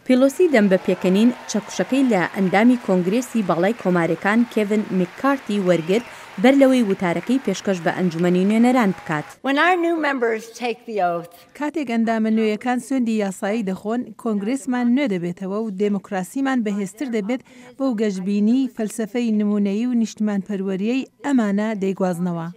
پیلۆسی دەم بە پێکەنین چەکوشەکەی لە ئەندامی کۆنگرێسی باڵای کۆمارێکان کێڤن میککارتی وەرگرت بەر لەوەی وتارەکەی پێشکەش بە ئەنجومەنی نوێنەران بکات. کاتێک ئەندامە نوێیەکان سوێندی یاسایی دەخۆن، کۆنگرێسمان نوێ دەبێتەوە و دێموکراسیمان بەهێزتر دەبێت، بەو گەشبینی، فەلسەفەی نموونەیی و نیشتمانپەروەرییەی ئەمانە دەیگوازنەوە.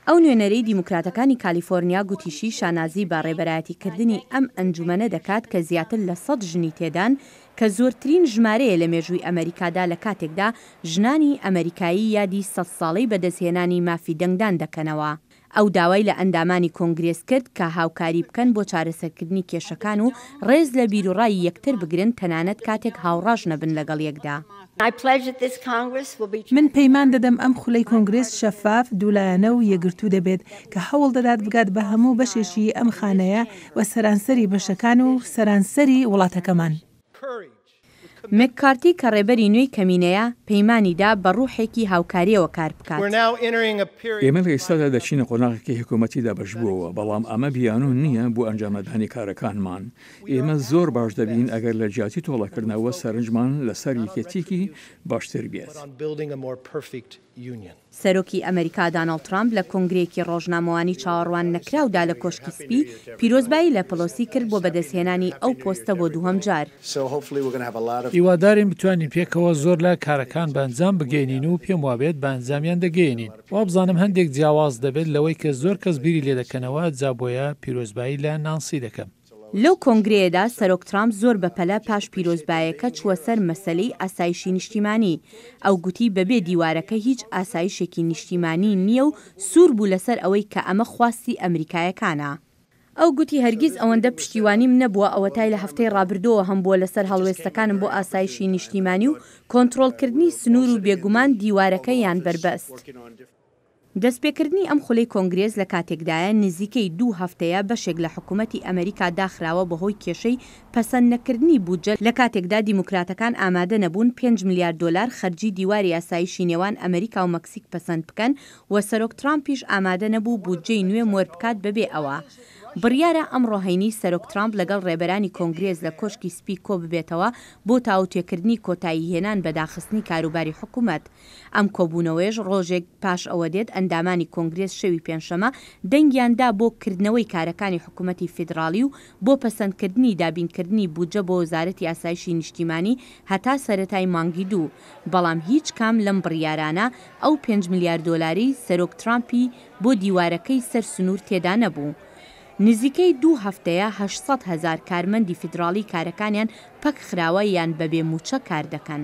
ئەو نوێنەرەی دیموکراتەکانی کالیفۆرنیا گوتیشی شانازی بە ڕێبەرایەتیکردنی ئەم ئەنجومەنە دەکات کە زیاتر لە سەد ژنی تێدان کە زۆرترین ژمارەیە لە مێژووی ئەمەریکادا لە کاتێکدا ژنانی ئەمەریکایی یادی سەد ساڵەی بەدەستهێنانی مافی دەنگدان دەکەنەوە. ئەو داوای لە ئەندامانی کۆنگرێس کرد کە هاوکاری بکەن بۆ چارەسەرکردنی کێشەکان و ڕێز لە بیروڕای یەکتر بگرن تەنانەت کاتێک هاوڕاش نەبن لەگەڵ یەکدا. من پەیمان دەدەم ئەم خولەی کۆنگرێس شەفاف، دوولایەنە و یەکگرتوو دەبێت، کە هەوڵ دەدات بگات بە هەموو بەشێکی ئەم خانەیە و سەرانسەری بەشەکان و سەرانسەری وڵاتەکەمان. مککارتی کە ڕێبەری نوێی کەمینەیە، پەیمانی دا بە ڕوحێکی هاوکارییەوە کار بکات. ئێمە لە ئیستادا دەچینە قۆناغێکی حکومەتی دابەشبووەوە، بەڵام ئەمە بیانوو نییە بۆ ئەنجامنەدانی کارەکانمان. ئێمە زۆر باش دەبین ئەگەر لە جیاتی تۆڵەکردنەوە سەرنجمان لەسەر یەکێتییەکی باشتر بێت. سەرۆکی ئەمەریکا داناڵد ترامپ لە کۆنگرەیەکی ڕۆژنامەوانی چاوەڕوان نەکراودا لە کۆشکی سپی، پیرۆزبایی لە پلۆسی کرد بۆ بەدەستهێنانی ئەو پۆستە بۆ دووهەم جار. هیوادارین بتوانین پێکەوە زۆر لە کارەکان بە ئەنجام بگەیەنین و پێموابێت بە ئەنجامیان دەگەیەنین. وابزانم هەندێک جیاواز دەبێت لەوەی کە زۆر کەس بیری لێدەکەنەوە، جا بۆیە پیرۆزبایی لە نانسی دەکەم. لەو کۆنگرەیەدا سەرۆک ترامپ زۆر بەپەلە پاش پیرۆزبایەکە چووە سەر مەسەلەی ئاسایشی نیشتیمانی. ئەو گوتی بەبێ دیوارەکە هیچ ئاسایشێکی نیشتیمانی نییە و سوور بوو لەسەر ئەوەی کە ئەمە خواستی ئەمریکایەکانە. ئەو گوتی هەرگیز ئەوەندە پشتیوانیم نەبووە ئەوەتای لە هەفتەی ڕابردووەوە هەمبووە لەسەر هەڵوێستەکانم بۆ ئاسایشی نیشتیمانی و کۆنترۆڵکردنی سنوور و بێگومان دیوارەکە یان بەربەست. دەستپێکردنی ئەم خولەی کۆنگرێس لە کاتێکدایە نزیکەی دوو هەفتەیە بەشێک لە حکومەتی ئەمەریکا داخراوە بەهۆی کێشەی پەسەند نەکردنی بودجە لە کاتێکدا دیموکراتەکان ئامادە نەبوون پێنج ملیار دۆلار خەرجی دیواری ئاسایشی نێوان ئەمەریکا و مەکسیک پەسەند بکەن و سەرۆک ترامپیش ئامادە نەبوو بودجەی نوێ مۆر بکات بەبێ ئەوە بڕیارە ئەمڕۆ هەینی سەرۆک ترامپ لەگەڵ رێبەرانی کۆنگرێس لە کۆشکی سپی کۆببێتەوە بۆ تاوتوێکردنی کۆتایی هێنان بە داخستنی کاروباری حکومەت ئەم کۆبوونەوەیەش رۆژێک پاش ئەوە دێت ئەندامانی کۆنگرێس شەوی پێنجشەمە دەنگیان دا بۆ کردنەوەی کارەکانی حکومەتی فیدراڵی و بۆ پەسەندکردنی دابینکردنی بودجە بۆ وەزارەتی ئاسایشی نیشتیمانی هەتا سەرەتای مانگی دوو. بەڵام هیچ کام لەم بڕیارانە ئەو پێنج ملیار دۆلارەی سەرۆک ترامپی بۆ دیوارەکەی سەر سنوور تێدا نەبوو. نزیکەی دوو هەفتەیە هەشت سەد هەزار کارمەندی فیدراڵی کارەکانیان پەکخراوە یان بەبێ مووچە کاردەکەن.